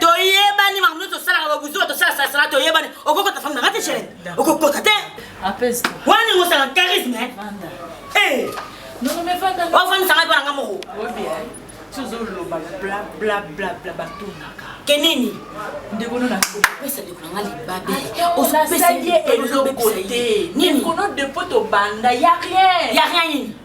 toyebani makambo nyonso osalaka babuzoba tosala salasala toyebani okokota fami nanga te chere okokota te wana ningo osala charisme eh. ofandisa ngai mpo nanga moko ke nini ndeko nona opesa ndeko nanga libabe osapesa ye eloko te nini kono depo tobanda ya rien ya rien nini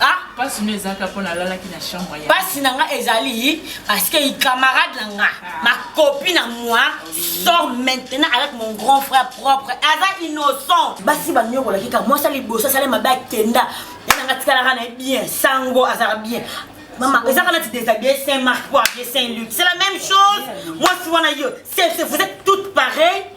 Ah, pasi no ezalaka mpo nalalaki na chambre ya pasi na nga ezali parce que camarade na nga ah. ma copie na moi sort maintenant avec mon grand frère propre aza innocent basi banyokolaki kaka mwasi ya liboso asali mabe akenda ye na nga tikalaka na ye bien sango azalaka bien mama ezaka nati deshabille saint marc po abie saint luc c'est la même chose mwasi wana yo vous êtes toutes pareilles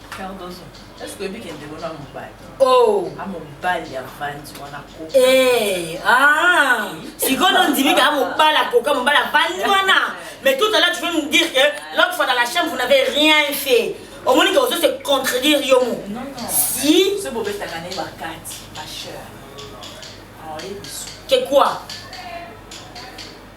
Eh, ah, sikoyo nondimi kaka mobali akoka mobali avandi wana mais tout à l'heure tu veux me dire que l'autre fois dans la chambre vous n'avez rien fait omoni ke ozo se contredire yo mo si que quoi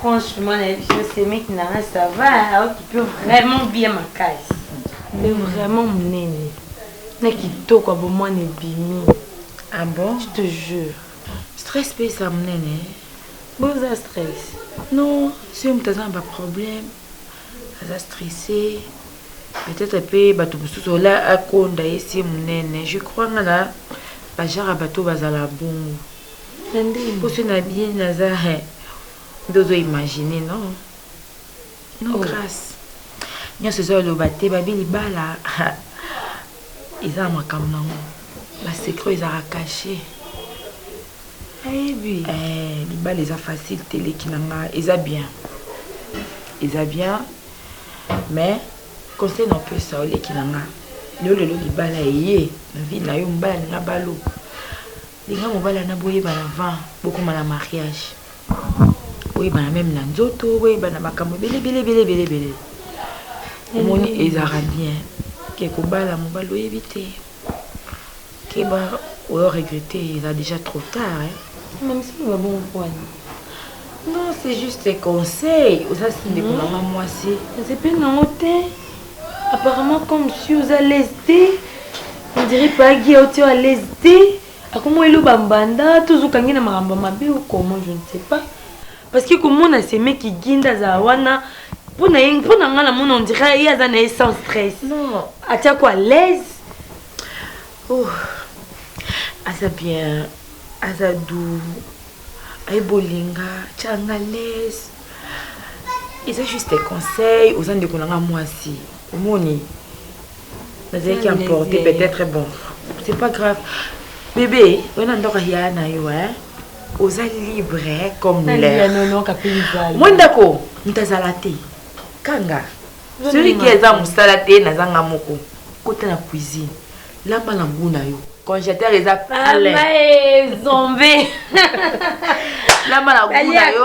Franchement na yebi yo semeki na nga ça va hein, okipe yo vraiment bien makasi. Nde vraiment munene na kitoko ya bomwana ebimi. Ah bon? Je te jure. Stress pe esa munene hein. Bo oza stress? Non, soki moto aza na ba problème, aza stressé. Peut-être pe bato mosusu ola akonda ye se munene. Je crois nga na ba genre ya bato bazala bongo. poso na bien naza he nde ozo imagine no no oh. grace nyonso eza oloba te babi libala eza na makambo nango basecret ezaka cache ayebi eh, libala eza facile te leki na nga eza bien eza bien mais conseil na opesa oleki na nga lelo lelo libala eye na vie na yo mobali na balo Linga mobali wana boyebana avant bokoma na mariage. Boyebana meme na nzoto, boyebana makambo ebele ebele ebele ebele ebele. Omoni mm. ezalaka bien ke kobala mobali oyebi te keba oyo regrette eza déjà trop tard eh? mamisiba bongo pwani non c'est juste conseil oza sindeko mm. na nga mwasi nzepeli nango te Apparemment comme si oza l'aise te, on dirait pagi au tio à l'aise te. Akomo elo ba mbanda, tozo kangi na makambo mabe ou comment je ne sais pas. Parce que komona seme kiginda za wana pona ye pona nga na mona on dirait ye aza na ye sans stress. Non. Atia ko à l'aise. Oh. Aza bien, aza doux. Ayebi bolinga, tianga l'aise. eza juste conseil oza ndeko na nga mwasi omoni nazalaki emporte peut-être bon c'est pas grave bebe wana ndako ya na yo hein oza libre comme l'air moi ndako moto azala te kanga soki ke eza mosala te nazanga moko kota na cuisine Lamba na mbu na yo. Congélateur eza plein. Mama e zombie. Lamba na mbu na yo.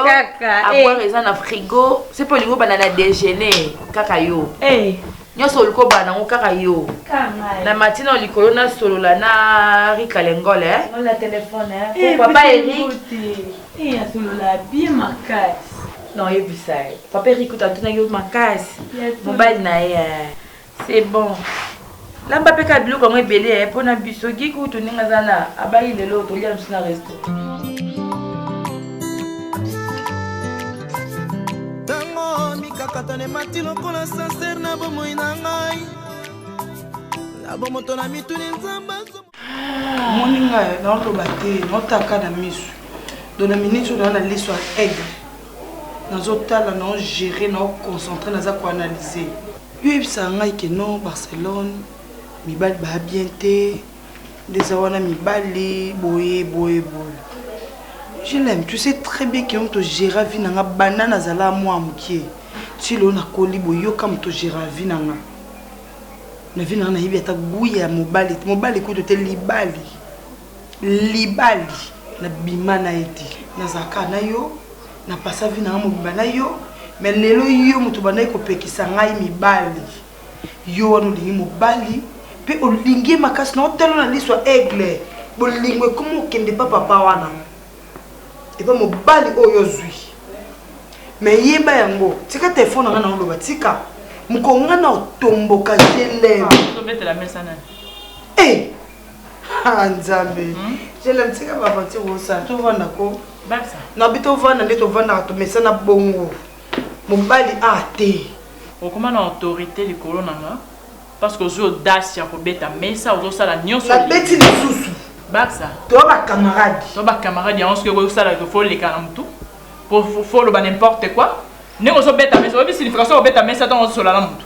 Avoir eh. eza na frigo. C'est pour lingo bana na déjeuner kaka yo. Eh. nyonso oliko bana yango kaka yo na matina oyo likolo nasolola na rika lengole eh? eh, papa erik non oyebisa ye papa erik otatunaki yo makasi mobali na ye C'est bon. Lamba pe ka biloko yango ebele eh, mpo na biso gi kutu ndenge aza na abayi lelo tolia biso na resto. mikakatano emati lokola sanser na bomoi na ngai na bomoto na mituni nzambe moni ngai naoloba te naotaka na miso dona miniti oyo naa na liso ya aigle Nazo tala nao gerer nao concentre naza ko analyser. Yo oyebisaka ngai que non Barcelone mibali ba bien te nde eza wana mibali boye boye boye je l'aime tu sais très bien que moto gera vie na nga banda nazala mwa mokie ti lelo nakoli boye yoka moto gera vie na nga na vie na nga nayebi ata gout ya mobali mobali kutu te libali Libali na bima na ye te na zaka na yo na pasa vie na nga mobimba na yo mais lelo yo moto bandaki kopekisa ngai mibali yo wana olingi mobali pe olingi ye makasi na otalo na liso ya aigle bolingo ekomi okende pa papa wana epa mobali oyo ozwi mais yeba yango tika telefone na nga na oloba tika mokonga na otomboka jelem eh! Ah, nzambe hmm? jelem tika baventure osala tovanda ko nabi tovanda nde tovandaka tomesana bongo mobali a ah, te okoma na autorité likolo na nga parce que ozwi audace ya kobeta mesa ozosala nyonso nabeti lisusu baksa to bacamarade to bacamarade yango soki ekoki kosala fo oleka na motu fo oloba n'importe quoi ndenge ozobeta mesa oyebi signification obeta mesa ntango ozosola na motu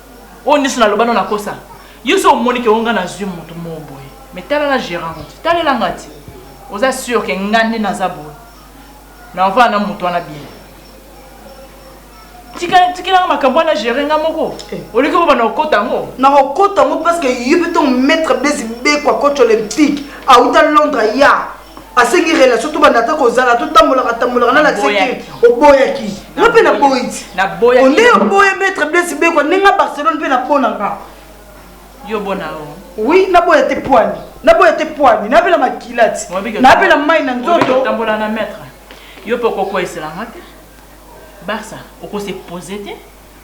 Oyo nioso na loba no na kosa. Yo so omoni ke o nga na zui mutu moko boye. Mais tala na gerant ngo ti. Talela nga ti. Oza sur ke nga nde naza boye. Na ovanda na mutu wana bien. Tika tikela nga makambo wana gerer nga moko. Eh. Oliki bo bana okota ngo. Na okota ngo parce que yo pe ton maître Blaise Beko coach olympique. Auta Londres ya. asengi relation tobanda ata kozala totambolaka tambolaka na lakisaki oboyaki nga mpe naboyi ti onde oboye maître blesi bekwa nde nga barcelone mpe napona nga yo bona oui naboya te poani naboya te poani nabela makila ti nabela mai na nzoto tambola na maître yo mpe okokweyisela nga te barça okose pose te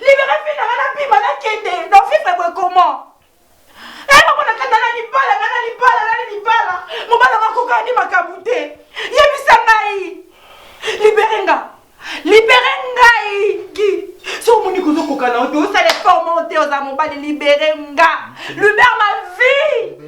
Libere fille nanga na bima na kende na vivre boye comment eh mama na kanda na libala na na libala na libala mobala nga koka ni makambo te yebisa ngai libere nga libere ngai ki so omoni kozo koka na oto osala effort moko te oza mobali libere nga libere ma vie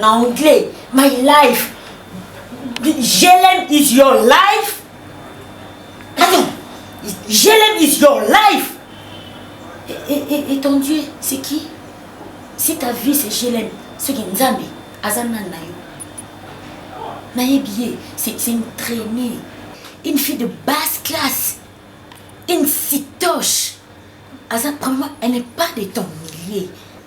na anglais my life jelem is your life attends jelem is your life et, et, et, et ton dieu c'est qui si ta vie c'est jelem soki nzambe aza nani na yo nayebi ye c'est une traînée une fille de basse classe une citoche aza vraiment elle n'est pas de ton milieu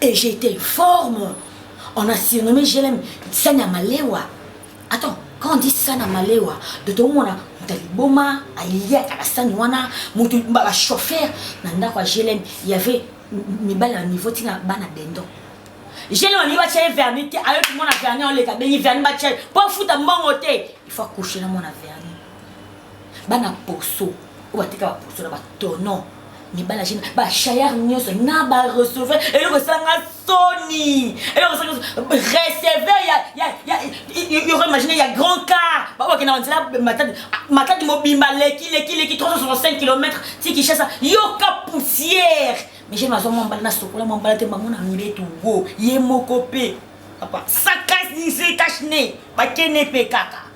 Et j'ai été informe. On a surnommé JLM Sana Malewa. Attends, quand on dit Sana Malewa, de tout le monde, Taliboma, Alia, Karasan, Wana, Moutou, Baba, chauffeur, Nanda, quoi, JLM, il y avait mibali na niveau tina bana dendon jele wani batya ye verni te ayoki mwana verni oleka bengi verni batya ye mpo afuta mbongo te il faut akouche na mwana verni bana poso oyo batika ba poso na ba tonon mibali ya jeune ba chayar nyonso na ba receveur eloko esanga soni eloko esanga receveur ya ya ya yoko imagine ya grand car ba bakenda ba nzela matadi matadi mobimba leki leki leki 365 km ti Kinshasa yoka poussière mais jeune azwa mwa mbala na sokola mwa mbala te bango na mbetu wo ye moko pe papa sakasi se cache ne bakene pe kaka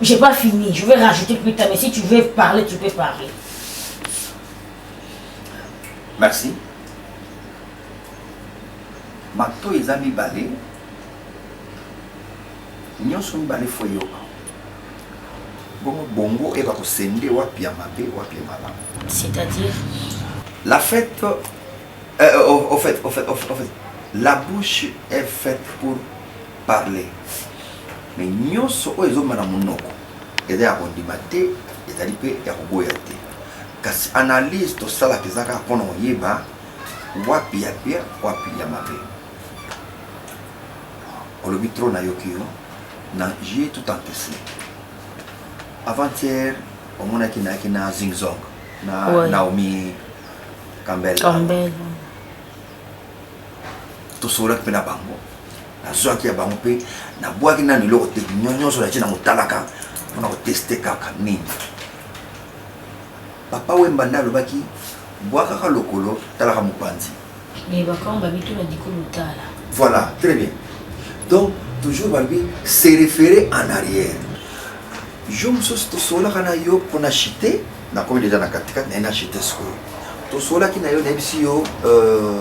J'ai pas fini, je vais rajouter plus tard, mais si tu veux parler, tu peux parler. Merci. Mato eza mibale nyonso mibale fo eyoka bongo bongo oyeba kosende wapi ya mabe wapi ya malamu c'est-à-dire la fête euh, euh au, au fait au fait au fait la bouche est faite pour parler mais nionso oyo ezobima na munoko eza ya kondima te ezali pe ya koboya te kasi analyse tosalaka eza kaka pona koyeba wapi ya bien wapi ya mabe olobi trop nayoki yo na jeu tout entesi avant-hier omonaki nayaki na zingzong na ouais. naomi kambel tosololaki mpe na bango nazwaki ya bango mpe nabwaki nano eloko te nyonso natie na motalaka mpona koteste kaka nini papa wemba nde alobaki bwakaka lokolo talaka mopanzi voilà très bien donc toujours balobi se référer en arrière yo mosusu tosololaka na yo mpona chite Na komi deja na kati kati na ena chete sikoyo. To solaki na yo na yebisi yo euh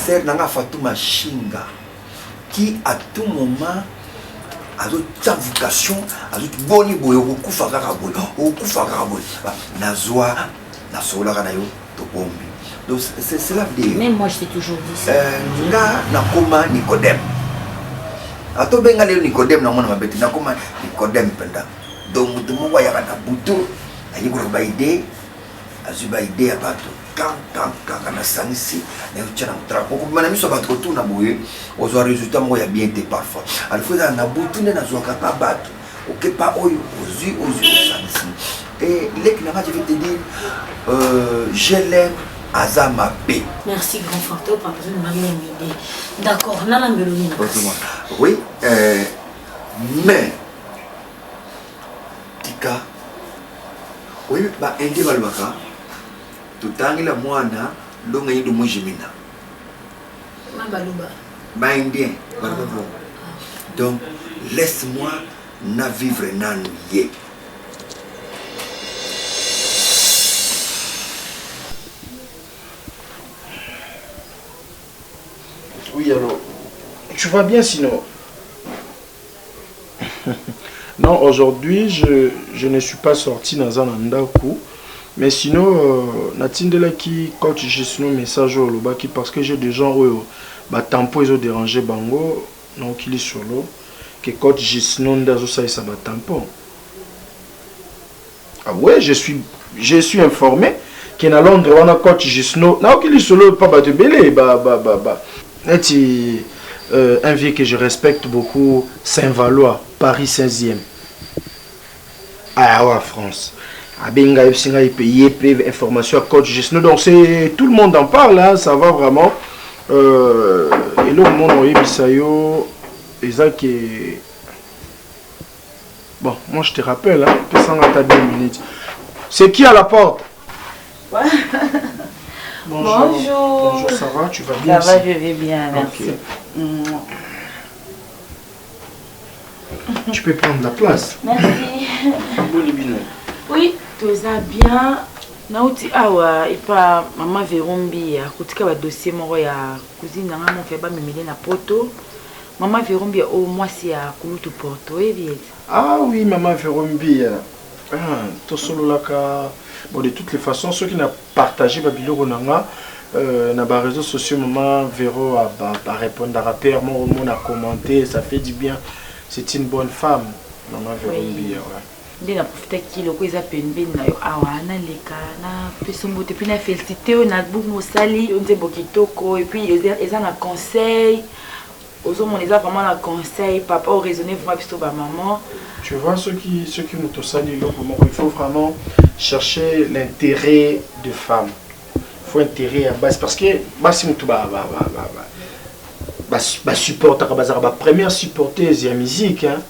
sœur na nga Fatuma Shinga qui à tout moment azotya vocation azoki boni boye okokufa kaka boye okokufa kaka boye nazwa nasololaka na yo tobombi donc c'est cela veut même moi j'étais toujours dit ça euh, nga nakoma nicodème atobenga lelo nicodème namona mabe te nakoma nicodème mpenza Donc moto moko ayaka na butu ayekolaka ba idee azwi ba idee ya bato kaka nasangisi nayotia na motrako okobima na miso ya bato kotuna boye ozwa resultat moko ya bien te parfois alifo ezala na butu nde nazwaka pa bato okepa oyo ozwi ozwi osangisi e leki na nga je vais te dire euh, je l'aime aza mabe merci grand facteur par exemple na même idée d'accord nalambelo nini oui euh, mais tika oyebi ba indien balobaka totangela mwana longa yindo mojimina ba indien balobaka ah, ah. donc laisse moi na vivre nanu ye yeah. Oui, alors, tu vas bien sinon Non aujourd'hui je je ne suis pas sorti naza na ndaku mais sinon euh, na tindelaki coach Gisno message oyo olobaki parce que j'ai des gens oyo ba tampo ezo déranger bango na okili solo que coach Gisno nde azo salisa ba tampon Ah ouais, je suis, je suis informé que na Londres wana coach Gisno na oki lisolo pa bato ebele ba ba ba ba neti euh, un vieux que je respecte beaucoup Saint-Valois Paris 16e awa ah, France abenga yebisi ngai mpe ye mpe information ya coach Gisno donc c'est tout le monde en parle hein, ça va vraiment euh, eloko mona oyebisa yo eza ke Bon, moi je te rappelle, hein, pesa nga ata 2 minutes. C'est qui à la porte Bonjour. Bonjour. Bonjour, ça va Tu vas bien Ça va, je vais bien, merci. Okay. Mmh. Tu peux prendre la place. Merci. Oui, tout ça bien. nauti awa epa mama verombi akotika badossier moko ya cousine na ngai moko ya bamemele na poto Maman Vero Mbiya oyo mwasi ya kulutu porto oyebi ye te? Ah oui maman Vero Mbiya ah tosololaka bon de toutes les façons soki na partager ba biloko na nga euh, na ba réseaux sociaux maman Vero a ba, ba repondaka pe moko mona commenter ça fait du bien c'est une bonne femme maman Vero Mbiya ouais. nde na profitaki loko eza pembeni na yo awa naleka na peso mbote mpe na felicite yo na buku mosali yo nzembo kitoko epuis eza na conseil ozomona eza vraiment na conseil papa o raisonne vraiment biso bamaman tu vois soki soki moto osali eloko moko il faut vraiment chercher l'intérêt de femme faut intérêt ya basi parce que basi moto ba, ba, ba, ba, ba basupportaka bazalaka bapremière supporteuse ya musique hein?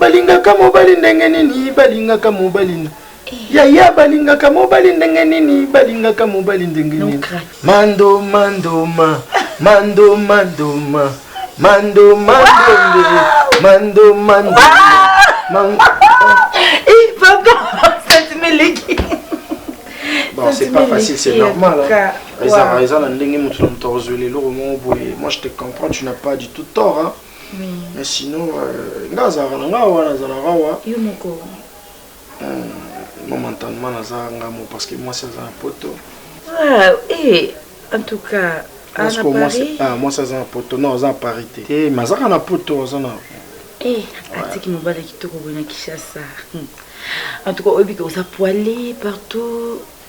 Balingaka mobali ndenge nini balingaka mobali na yaya balingaka mobali ndenge nini balingaka mobali ndenge nini mando mandoma mando mandoma mando mandonde mando mando mando Bon, c'est pas facile, c'est normal. Hein. Wow. Moi, je te comprends, tu n'as pas du tout tort. Hein. mais sinon euh, nga azalaka na nga wana azalaka awa yo moko hmm, momentanement naza nga mo parce que mwasi aza na poto ah, eh, en tout cas ah, ah, mwasi aza na poto non aza na paris te te eh, mais azaka na poto aza na eh, atiki mobali kitoko boye na kinshasa hmm. en tout cas oyebi ke oza poile partout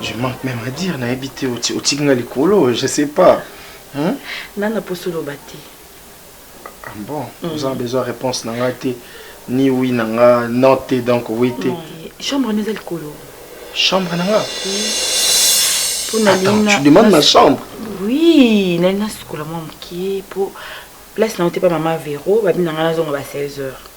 Je manque même à dire, na ebite otinga likolo, je sais pas. Hein? Nana posolo bati. Ah bon, mm. vous avez besoin de réponse nanga te, ni oui nanga, non te, donc oui te. Chambre neza likolo. Chambre nanga. Oui. Attends, tu demandes ma chambre. Oui, nana sukola mwa mokie po place na otepa mama Vero, babi nanga nazonga ba 16 heures.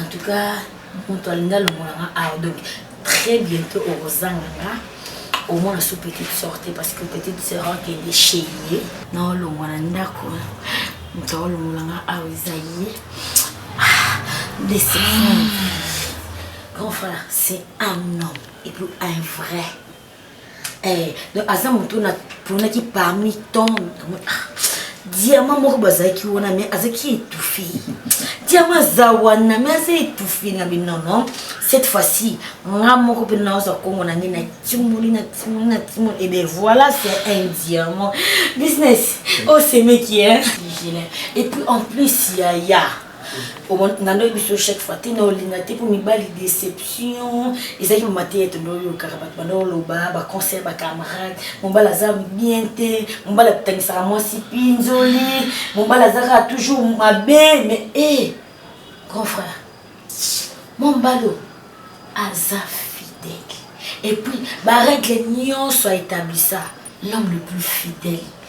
En tout cas, mutu alingi alongola nga awa donc très bientot okozanga nga omona su petite sœur te parce que petite sœur akende chez ye na olongwa na ndako moto aolongola nga awa eza ye desi grand frère c'est un homme et puis un vrai Eh, donc aza moto oyo naponaki parmi tant ah, diamant moko bazalaki wana mais azalaki étouffe diamant aza wana mais aza étouffe na binono cette fois-ci nga moko mpe naoza kongo na ngai na timoli na timoli na timoli ebe eh voilà c'est un diamant business osemeki oh, hein et puis en plus yaya nga ndoyebi biso chaque fois te na olinga te mpo mibali déception ezalaki mama te ete ndoyokaka bato banda oloba baconseil bacamarade mobali aza bien te mobali atangisaka mwasi pinzoli mobali azaka toujours mabe mais e eh, grand frère mobali aza fidèle epuis barègle nyonso aetablisa l'homme le plus fidèle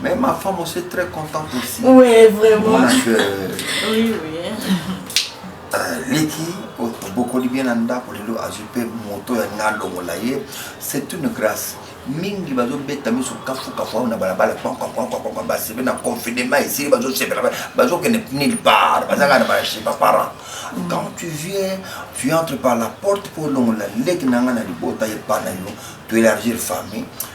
Mais ma femme aussi est très contente aussi. Oui, vraiment. Parce que, oui, oui. Euh, leki obokoli bien na ndako lelo azwi mpe moto ya nga alongola ye c'est une grâce mingi bazobeta miso kafukafu awa na balabala basebe na confinement esili bazosepela bazokende nulle part bazanga na bache baparent quand tu viens tu entre par la porte mpo olongola leki na nga na libota epa na yo to élargir famille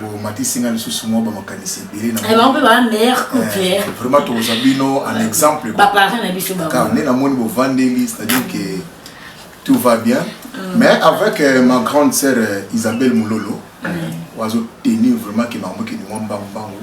Bo matisi nga lisusu mwa ba makanisi ebele na. Eh, bango mpe ba meilleur eh, couple. Eh, vraiment toza bino en exemple. Ba parents na biso ba. Car nena moni bo vandeli, c'est-à-dire que tout va bien. Mm. Mais avec euh, ma grande sœur euh, Isabelle Moulolo, mm. oiseau tenir vraiment que maman qui nous mbangu mbangu.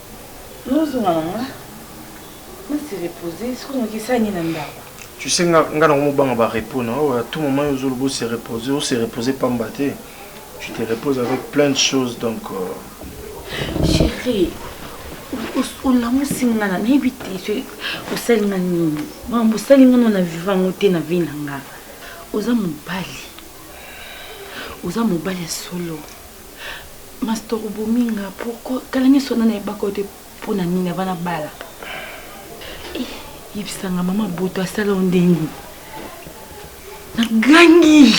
Nozonga na nga, na se reposer, sikoyo nakisa nini na ndako? Tu sais nga nga nango mobanga ba repos na oyo à tout moment yo ozoloba o se reposer, o se reposer pamba te. Tu te reposes avec plein de choses donc euh, Chérie, o- o- olamusi nga na nayebi te soki osali nga nini. Makambo osali nga nona viva yango te na vie na nga. Oza mobali. Oza mobali ya solo. Mastor obomi nga pourquoi kala nyoso nana yebaka yo te mpo na nini avant nabala eh, yebisa nga mama boto asala yo ndenge nagangi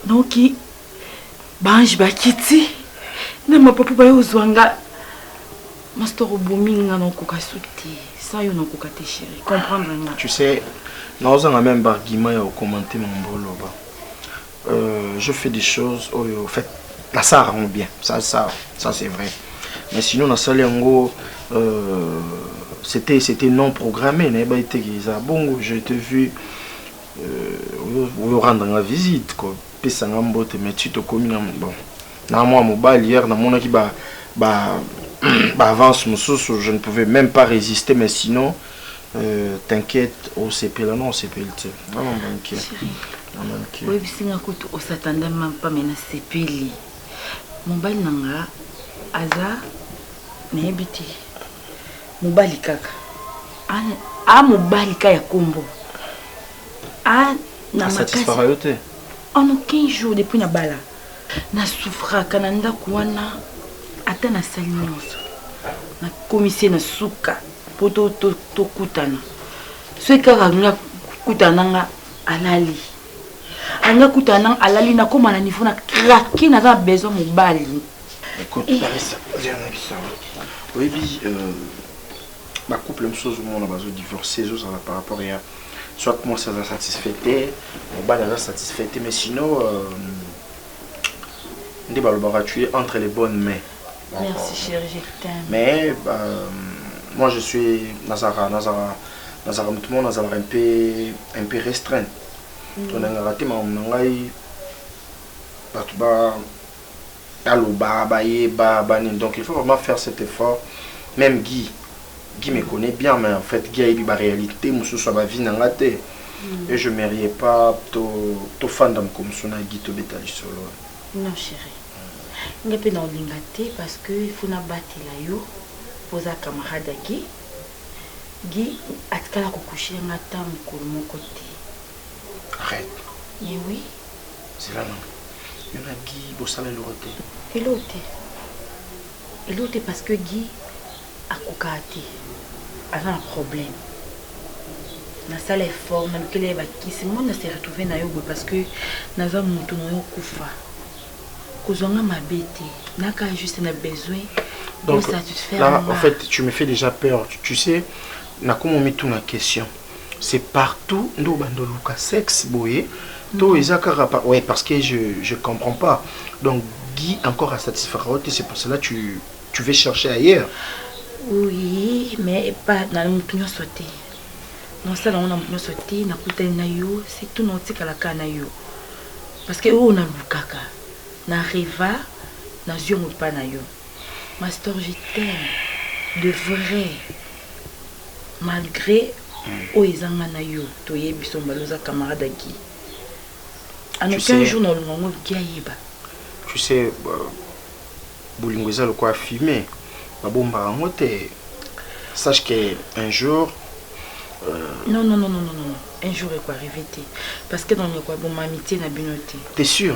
naoki baange bakiti na mapapu baye ozwa nga mastor obomi nga naokoka su te sans yo nakoka te chéri comprendre nga tu sais naozanga même baargument ya okomante mambo oloba Euh, je fais des choses oyo oh, fait nasala yango bien ça ça ça c'est vrai mais sinon nasali yango euh, c'était c'était non programmé nayebaki te eza bongo je te vu oyorendre euh, nga visite kopesa nga mbote mais ti tokomi na bon na mwa mobali hier namonaki ba ba baavance mosusu je ne pouvais même pas résister mais sinon Euh, t'inquiète, osepela na osepeli te. Na na manke. Na manke. Oui, bisinga kutu osatanda mampa mais na sepeli. Mobali na nga aza nayebi te. Mobali kaka. A, a mobali ka ya kombo. A na makasi. Satisfera yo te. En aucun jour depuis na bala. Na souffraka na ndaku wana ata na sali nionso na komisi na suka po to to kutana. Soki kaka nga kutana nga alali. Anga kutana nga alali na koma na niveau na craquer na za besoin mobali. Écoute, eh. Larissa, viens na biso. Oyebi euh ba couple mosusu mona bazo divorcer ezo zala par rapport ya soit mwasi aza satisfait te mobali aza satisfait te mais sinon euh, nde balobaka tu es entre les bonnes mains merci chéri je t'aime mais euh, moi je suis nazalaka nazalaka nazalaka motu moko nazalaka un peu un peu restreint mm. to nangaka te makambo na ngai bato ba Baloba bayeba ba nini donc il faut vraiment faire cet effort meme Guy Guy me connait bien mais en fait Guy ayebi ba realite mususu ya ba vie na nga te et je me rie pas to to fanda mukomusu na Guy to beta lisolo non cherie nga pe na olinga te parce que il faut na batela yo po za camarade ya Guy Guy atikala ko coucher nga ta mukolo moko te arrête mais oui zela nanu yo na gi bosala eloko te eloko te eloko te parce que gi akokaka te aza na problème nasala effort nalukela ye bakisi moi na se retrouve na yo boye parce que naza motu na yo kufa kozwa nga mabe te naka juste na besoin donc là en fait tu me fais déjà peur tu, tu sais nakomi omituna question C'est partout nde obanda oluka sex boye to eza kaka pa ouais parce que je je comprends pas donc Guy encore à satisfaire yo te c'est pour cela tu tu veux chercher ailleurs oui mais pas na mutu nyonso te nasala yango na mutu nyonso te nakutani na yo surtout na otikala kaka na yo parce que oyo nalukaka na reva nazwi yango epai na yo Ma store je t'aime de vrai malgre oyo eza nga na yo toyebi biso mibale oza camarade ya Guy en aucun jour na olonga ngo Guy ayeba tu sais euh, bolingo eza lokola fume babombaka yango te sache que un jour euh... non, non, non, non, non, non. un jour ekoarrive te parce que dans ndeko aboma amitié na bino te t'es sûr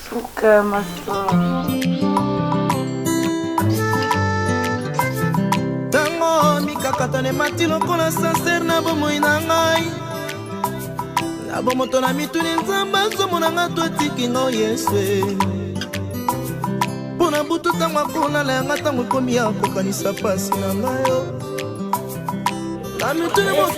Suka masolo. ntango mikakatano emati lokola sansere na bomoi na ngai na bomoto na mituni nzambe azomona ngai to atiki ngai yesu mpo na butu ntango akolala yanga ntango ekomi ya kokanisa mpasi na ngai yo na mituni mo-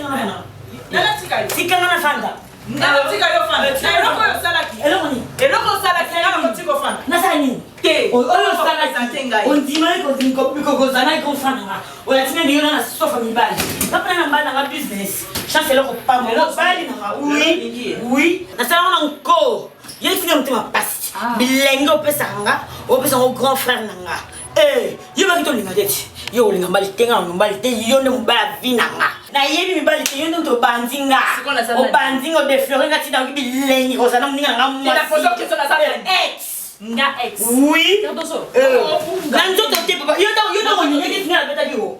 tikanga na fanda Nga otika yo fana. Eloko oyo osalaki. Eloko nini? Eloko osalaki nga nakotika ofana. Nasala nini? Te. Oyo osalaki te ngai. Ondimaki kokozana ko fana nga. Olati nani yo na sofa mibali. Napana na mbala nga business. Chance eloko pamba. Eloko bali na nga. Oui. Oui. Nasala ngo na nko. Ye tina motema pasi. Bilenge opesaka nga, opesaka ngo grand frère na nga. Eh, yo baki tolinga te ti yo kolinga mbali te nga mbali te yo nde mobali ya vi na nga nayebi mibali te yo nde moto obandi nga obandi nga odeflore nga ti nayoki bilengi kozala na moninga nga mwasi nga ex oui na nzoto te papa yo ntango yo ntango olingaki nga nabetaki yo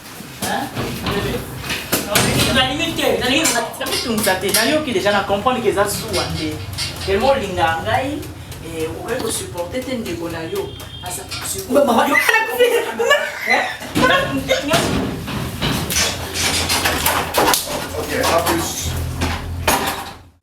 mitungisa te nayoki deja na comprendre ke eza suwa te elmo olingaka ngai eh, okoki kosupporte te ndeko na yo Okay, à plus.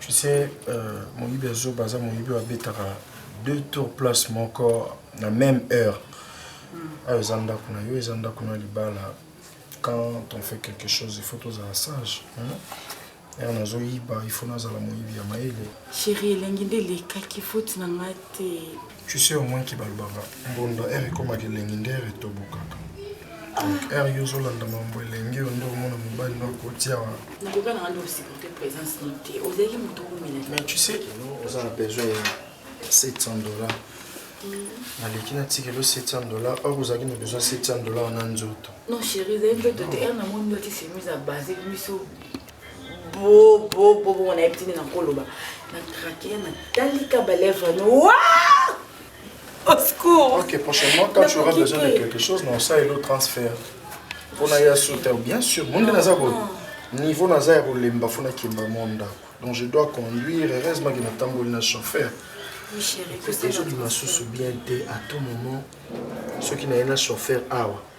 Tu sais, euh, moyibi ya zoba aza moyibi oyo abetaka deux tours place moko na même heure ayo eza ndako na yo eza ndako na libala quand on fait quelque chose il faut tozala sage ere nazoyiba il faut nazala moyibi ya mayele sheri elengi nde elekaki foti na ngai te Tu sais au moins ki balobaka mbonda heure ekomaka elengi nde heure etobokaka donc heure yo ozolanda mambo elenge yo nde omona mobali nde akoti awa mais tu sais oza na besoin ya 700 dollars naleki na tikelo 700 dollar or ozalaki na besoin 700 dollar na nzoto bo bo bo bo nayebi tini nakoloba na krake na talika balèvre no au secours ok prochainement quand tu auras besoin de quelque chose na osalelo transfert mpo na ya suta bien sûr monde naza boye niveau naza ya kolemba fo nakemba mwa ndako donc je dois conduire heureusement ke natamboli na chauffeur ezobima susu bien te à tout moment soki naye na chauffeur awa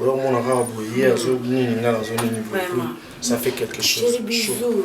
oyo omona kaka boye ye azo nini nga nazo nini boye ça fait quelque chose bisous